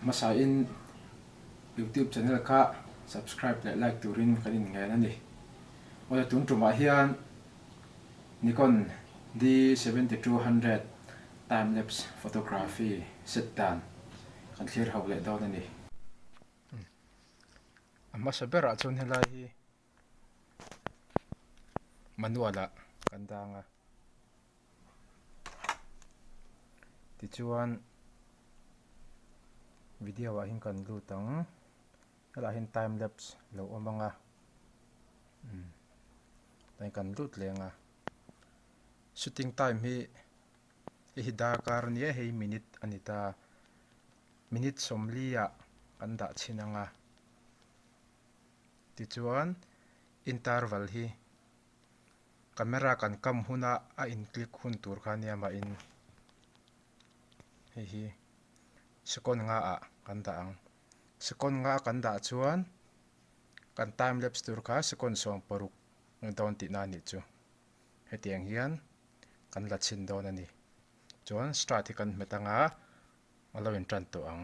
Hmasa in YouTube channel kha subscribe leh like turin kan inngen a ni. Aw le tun tumah hian Nikon D seven thousand two hundred time lapse photography set dan kan thlir ho leh dawn a ni. A hmasa berah chuan helai hi. manual ah kan dang a, tichuan video ah hin kan lut ang, helah hin time lapse lo awm ang a, umm tlai kan lut leng a, shooting time hi hei hi darkar a nia hei minute a ni ta, minute sawmli ah kan dah chhin ang a. Tichuan, interval hi camera kan kam huna a in click hun tur kha nia mahin hei hi second nga ah kan dah ang. Second nga kan dah chuan kan time lapse tur kha second sawm paruk ni dawn tih na nih chu heti ang hian kan la chhin dawn a ni. Chuan start hi kan hmet ang a, a lo in tan tawh ang.